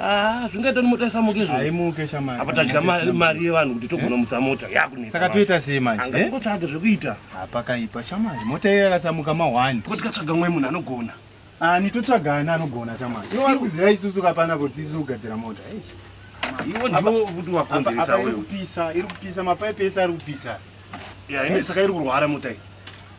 Ah, zvingaita kuti mota isamuke izvo. Haimuke shamari. Apa tadya mari yevanhu kuti togona mutsa mota yakunetsa. Saka toita sei manje? Anga eh? ngotsvaga zvekuita. Apa kaipa shamari. Mota iyo yakasamuka ma 1. Kuti katsvaga mwe munhu anogona. Ah, ni totsvaga ana anogona shamari. Iwe wari kuziva isusu kapana kuti tisu kugadzira mota. Hey. Eh? Iwe ndiwo futi wakonzeresa wewe. Iri kupisa, iri kupisa mapipe ese ari kupisa. Yeah, ine saka iri kurwara mota iyi.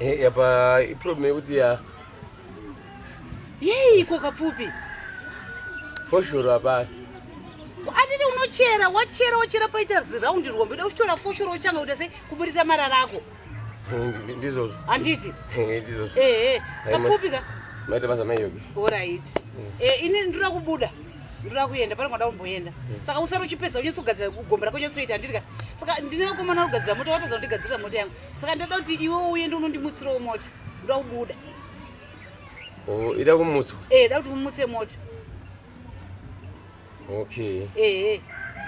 Eh, apa iproblem yekuti ya yei iko kapfupi foshoro apa atiti unochera wachera wachera paita ziraundi rwombe uda kuchitora foshoro uchanga kuita sei kuburitsa marara ako eh, ndizvozvo handiti eh, ndizvozvo ehe kapfupi ka maita basa maiyoke orit ini ndinoda kubuda ndinoda kuenda pane kwada kumboenda saka usari uchipedza unyatsogadzira kugombera konyatsoita handiti ka saka ndine komana kugadzira mota watadza kundigadzirira mota yangu saka ndoda kuti iwe uye ndi unondimutsirawo mota ndoda kubuda oh, ida kumutswa eh da kuti umutse mota okay eh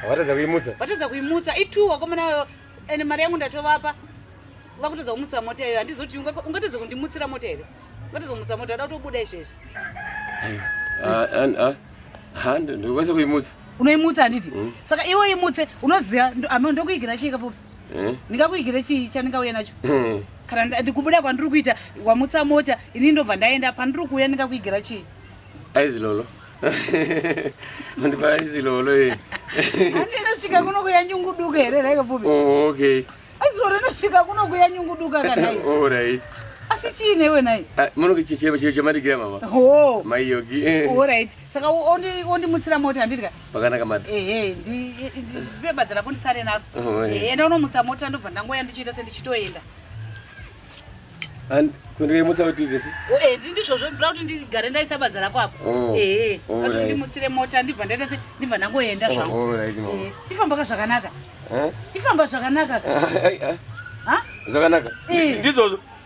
vatadza kuimutsa vatadza kuimutsa itu wakomana ende mari yangu ndatovapa vakutadza kumutsa mota iyoyo handizoti ungatadza kundimutsira mota here ungatadza kumutsa mota ada kutobuda izvezvi ndokwanisa kuimutsa unoimutsa handiti mm. saka iwe imutse unoziva ndokuigira chii kafupi eh? ndingakuigire chii chandingauya nacho eh. kana ndikubuda kwandiri kuita wamutsa mota ini ndobva ndaenda pandiri kuuya ndingakuigera chii aizilolo andipa aizilolo e andinosvika kuno kuya nyungu duka here raikapfupi oh, okay aizilolo inosvika kuno kuya nyungu duka kanai all right asi chii newe nai ah, munokichechema chiro chamadigira mama ho maiyogi all right saka ondimutsira mota handidya pakanaka mad ehe ndibebadza rako ndisare naro oh, eh. enda unomutsa mota ndobva ndangoya ndichiita sendichitoenda and kundirimutsa kuti ndisi oh, eh, ndizvozvo ndoda kuti ndigare ndaisa badza rako apo oh, ehe ati ndimutsire mota ndibva ndaita se ndibva ndangoenda zvangu eh, chifamba ka zvakanaka chifamba zvakanaka zvakanaka ndizvozvo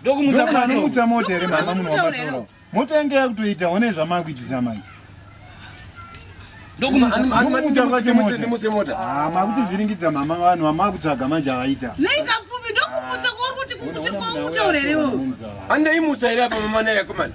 ndokumutsa mota here mama munhu wamatorawo mota yange yakutoita one zvamakuitisa manje makutivhiringidza mama vanhu vamakutsvaga manje avaita andaimutsa here apa mama naye akomana